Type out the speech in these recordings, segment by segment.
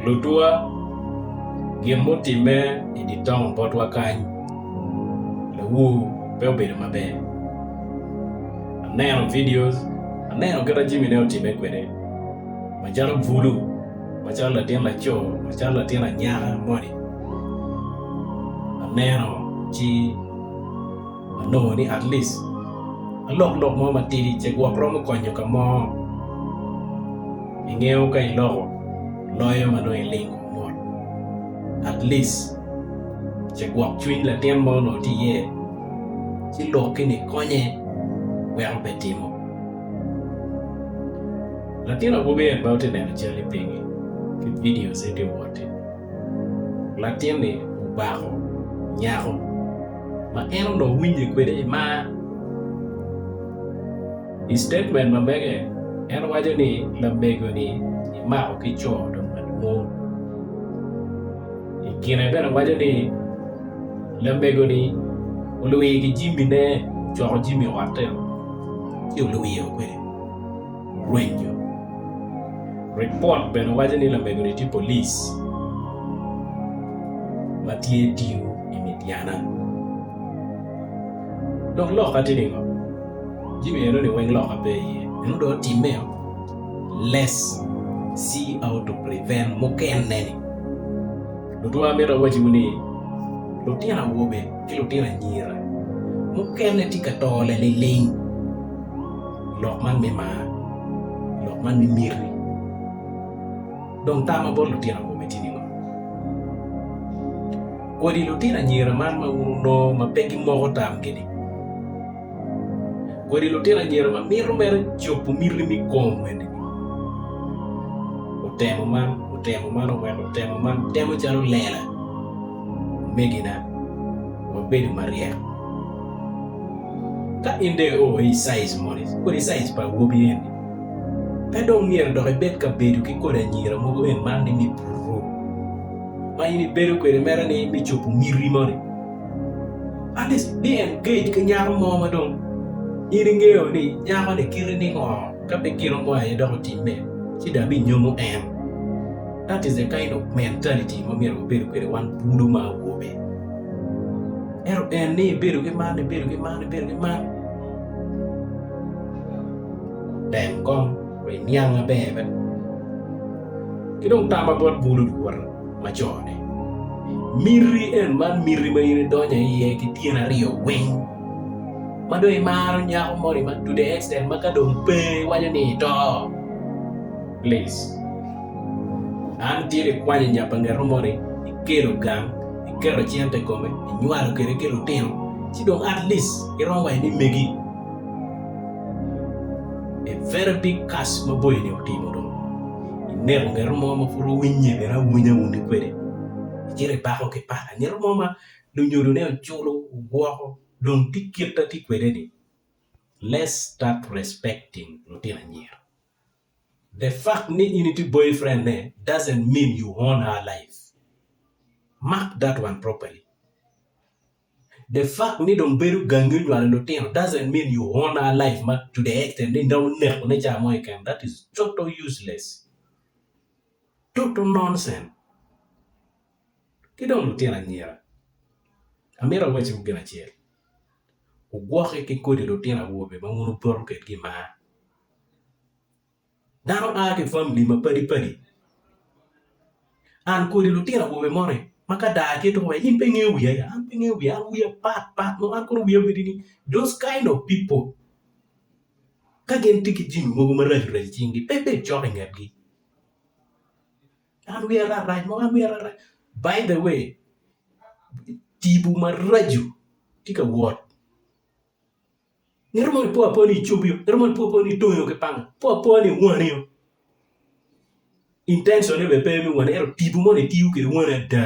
Lutwa, gin mutimme i dye taun botwa kany, lawur pe obedo maber. Aneno vidio, aneno kit ma Jimi ne otimme kwede macalo bulu, macalo latin laco, macalo latin anyaka moni. Aneno ci. Anongo ni at least alok lok mo matidi ce gwok romo konyo ka mo. Ingeyo ka iloko loyo ma nongo ilingo mot at least ce gwok cwiny latin mo nongo tye iye ci lok kene ikonye wek obed timo. Latin awobi en ma watye neno cal-li pingi ki videos-ne tye wot-ti. latin-ni obako nyako ma en onongo winye kwede i mar. I citatement ma mege, en waco ni lamego-ni imako ki co dong madwong. I kine bene waco ni lamego-ni olwir ki jimine, ocoko jimi otte ci olwiro kwede. rwenyo. Ripot bene waco ni lamego-ni tye polic ma tye tiyo i Midiana. Dok loka tye ningo? Jimi eno-ni weng loka pe iye. Eno dong otimmeo? Les, si how to prevent mukene-ni. Lutwa amito awacciwu ni, lutino awobe, ki lutino anyira mukene tye ka to laliling i lok man me mar, i lok man me miti. Dong tam ma bot lutino awobe tye ningo? Kodi lutino anyira man ma wun wunongo ma pe gimoko tamgi-ni? Kodi lutino anyira ma mito mere cobo miti me komgi-ni? Otemo man, otemo man oweko otemo man temo calo lela. Omegina, wabedo maryek. Ka in dong io i size moni, kodi size pa awobi eni, pe dong myero dok ibed ka bedo ki kodi anyira mogo en man ni me puru, ma in ibedo kwede mere ni me cobo miti moni. At least bi engage ki nyako mo ma dong in ingeyo ni nyako ni kiti ningo, ka pe gino mo aye dok otimme, ci dong abinyomo en. That is the kind of mentality ma myero wabedo kwede wan bulu ma awobe. Ento en ni ibedo ki man, ibedo ki man, ibedo ki man. Dem kom, ri niang maber be. Ki dong tama bot bulu luwote macone. Miti en man miti ma in idonyo iye ki tyen aryo weng. Ma dong imaro nyako moni ma to the extent ma ka dong pe iwaco ni ito. Please. An tye ka kwanyo nya pa ngeto moni, ikelo gang, iketo cente i kome, inywalo kwede ki lutino, ci dong at least iromo wa imi megi. A very big curse ma boyoni otimo dong. Ineko ngeto mo ma pud owinye kene awinya wunu kwede. Icito ipako ki pala ngeto mo ma lunyodone oculo woko dong tye kit ma tye kwede ni. Let's start respecting lutino anyira. The fact ni in itye boyfriend ne doesn't mean you own her life. Mark that one properly. The fact ni dong bedo gangi onywalo lutino doesn't mean you own her life ma to the extent ni dong oneko ne ca mo keken. That is total useless. Total nonsense. Ki dong lutino anyira, amito awacciwu gin acel, wugwokke ki kodi lutino awobe ma wun wupoto kwedgi mar. Dano a ki i famili mapadi padi. An kodi lutino awobe moni ma ka daa tye tuko in pe ingeyo wiya ya? An pe angeyo wiya, an wiya pat pat nongo an kono wiya obedo ni those kind of people ka gin tye ki jami mogo maraco raco i cingi pe ibed cok i ngetgi. An wiya rat rac mo, an wiya rat rac. By the way tipo maraco tye ka wot. Ngat mo ni po apoa ni icubi-o, ngat mo ni po apoa ni itongi-o ki panga, po apoa ni iwani-o. Intention-ne bene pe me wani ento tipo moni itiyo kwede wani ada.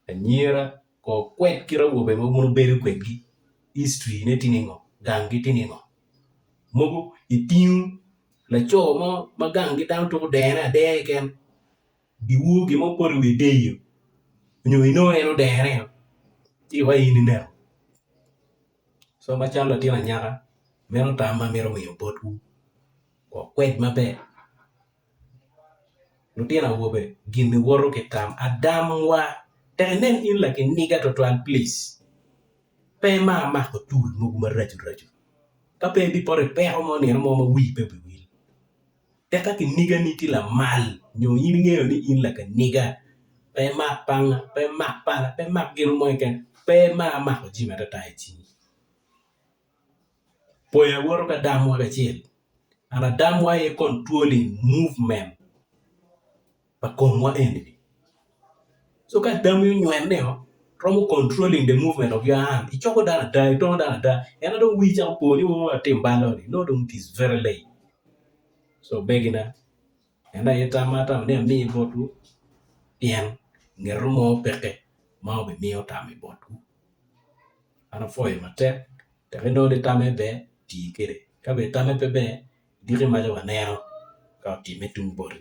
Anyira kor kwed kit awobe ma wun wubedo kwedgi, history-ne tye ningo, ganggi tye ningo. Mogo itingo laco mo ma ganggi dano twero dene adeya keken. Giwor gin mo poto i wi deyo nyo inongo en odere o ci wa in ineno so macalo latin anyaka meno tam ma amito miyo botwu wok kwed maber lutino awobe gin iwoto ki tam adam wa tek inen in lakiniga twatwal plic pe imar mako tul mogo maraco raco ka pe ibipoto ipeko mo nino mo ma wii pe obi wil Tika kinigani tye lamal nyo in ingeyo ni in lakiniga? Pe imak panga, pe imak pala, pe imak gin mo keken, pe imar mako jami atata i cingi. Pwony awoto ki adamwa kacel, and adamwa aye controlling movement. pa komwa enini. So ka adami onywene ni o romo controlling the movement of your hand, icoko dano ada, itongo dano ada, en adong wii cako po ni o atim ballo ni, no dong it is very late. So omegina, en aye tam ma atamo ni ami botwu pien ngeto mo peke ma obimiyo tam i botwu. An apwoyo matek tek inongo ni tamme ber, ti kede. Ka bene tamme pe ber, idiki maca waneno ka otimme tung boti.